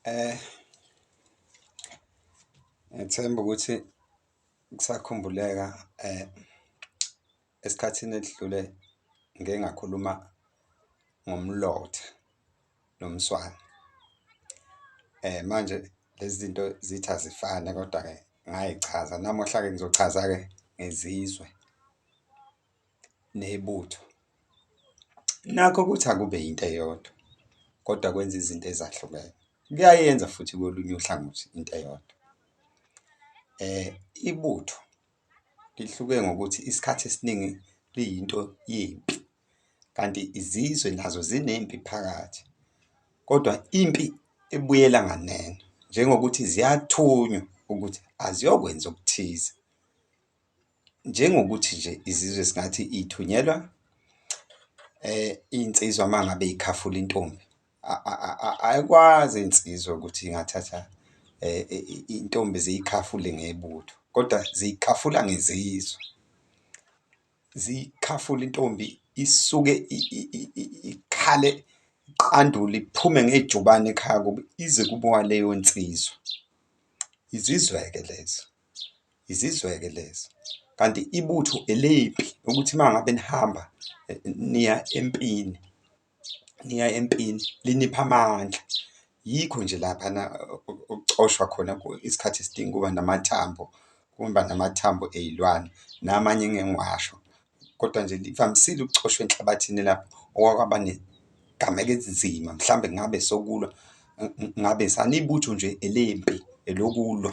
Eh ngethemba ukuthi kusakhumbuleka eh Esikhathini edlule ngike ngakhuluma ngomlotha nomswane. Manje lezi zinto zithi azifane kodwa-ke ngay'chaza. Namuhla-ke ngizochaza-ke ngezizwe nebutho. Nakho ukuthi akube yinto eyodwa kodwa kwenza izinto ezahlukene. Kuyayenza futhi kolunye uhlangothi into eyodwa ibutho. Lihluke ngokuthi isikhathi esiningi liyinto yempi, kanti izizwe nazo zinempi phakathi. Kodwa impi ebuyela nganeno, njengokuthi ziyathunywa ukuthi aziyokwenza okuthize. Njengokuthi nje izizwe singathi ithunyelwa iy'nsizwa uma ngabe ikhafula intombi. Ayikwazi insizwa ukuthi ingathatha intombi ziyikhafule ngebutho, kodwa ziyikhafula ngezizwe. Ziyikhafula intombi isuke ikhale iqandule iphume ngejubane ekhaya kubo ize kubowa leyo nsizwa. Izizwe-ke lezo, izizwe-ke lezo, kanti ibutho elempi ukuthi uma ngabe nihamba niya empini. niya empini linipha amandla, yikho nje laphana okucoshwa khona isikhathi esidingi ukuba namathambo, ukuba namathambo ey'lwane namanye engike ngiwasho. Kodwa nje livamisile ukucoshwa enhlabathini lapho okwake kwaba ney'gameko ezinzima, mhlawumbe ngabe sokulwa ngabe sanibutho nje elempi elokulwa.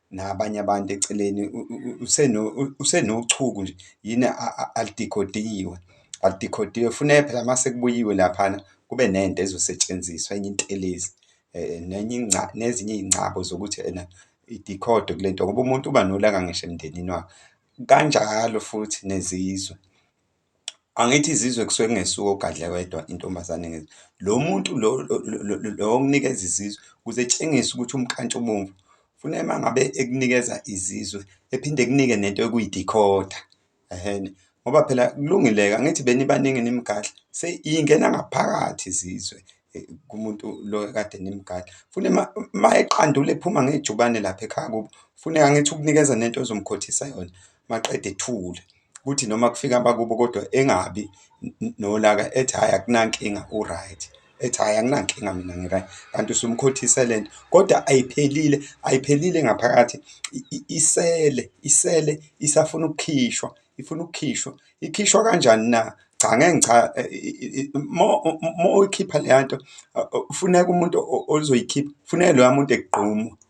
nabanye abantu eceleni usenochuku nje yini alidikhodiwe alidikhodiwe funeka phela uma sekubuyiwe laphana kube nento ezosetshenziswa enye intelezi nenye nezinye iy'ngcabo zokuthi ena idikhodo kule nto ngoba umuntu uba nolaka ngisho emndenini wakhe, kanjalo futhi nezizwe. Angithi izizwe kusuke kungesuye oGadla wedwa intombazane ngezwe. Lo muntu lo lo okunikeza izizwe ukuze etshengise ukuthi umnkantshubomvu ufuna uma ngabe ekunikeza izizwe ephinde ekunike nento ekuyi-decoder ehhene. Ngoba phela kulungile-ke angithi benibaningi nimgadla seyingena ngaphakathi izizwe kumuntu lo ekade nimgadla. Funa uma uma eqandule ephuma ngejubane lapha ekhaya kubo, funa angithi ukunikeza nento ezomkhothisa yona maqede ethule. kuthi noma kufika abakubo kodwa engabi nolaka ethi hhayi akunankinga u-right ethi hhayi anginankinga mina ngi-right kanti usumkhothise le nto kodwa ayiphelile ayiphelile ngaphakathi isele isele isafuna ukukhishwa ifuna ukukhishwa ikhishwa kanjani na cha ngeke ngicha uma uyikhipha leya nto funeka umuntu ozoyikhipha funeka loya muntu egqume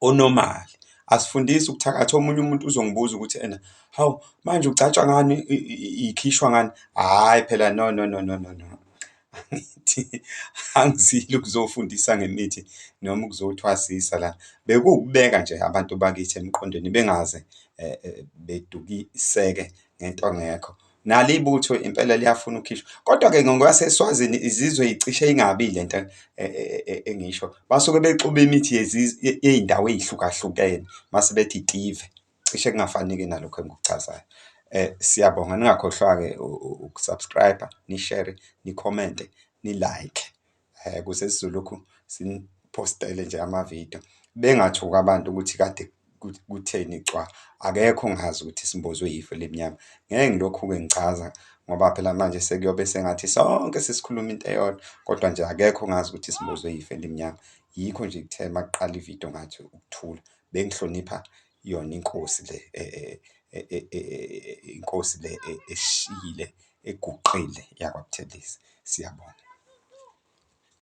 onormal. Asifundisi ukuthakatha omunye umuntu uzongibuza ukuthi ena hawu manje ugcatshwa ngani ikhishwa ngani, hhayi phela no no no no no no. Angithi angizile ukuzofundisa ngemithi noma ukuzothwasisa la, bekuwukubeka nje abantu bakithi emqondweni bengaze eh, eh, bedukiseke ngento ngekho. nalo ibutho impela liyafuna ukukhishwa kodwa-ke ngokwaseswazini izizwe icishe ingabi le nto e, e, e, engisho basuke bexuba imithi yey'ndawo ey'hlukahlukene mase bethi itive cishe kungafanike nalokho engikuchazayo um siyabonga ningakhohlwa-ke ukusubscribe nishere nikhomente nilike eh kuze sizolokhu sinipostele nje amavidiyo bengathuka abantu ukuthi kade kutheni cwa akekho ongazi ukuthi simbozwe yifo elimnyama ngeke ngilokhu-ke ngichaza ngoba phela manje sekuyobe sengathi sonke sesikhuluma into eyodwa kodwa nje akekho ongazi ukuthi simbozwe yifo elimnyama yikho nje kuthe makuqala ividiyo ngathi ukuthula bengihlonipha Iyona inkosi le inkosi le eshile eguqile yakwaButhelezi. Siyabonga.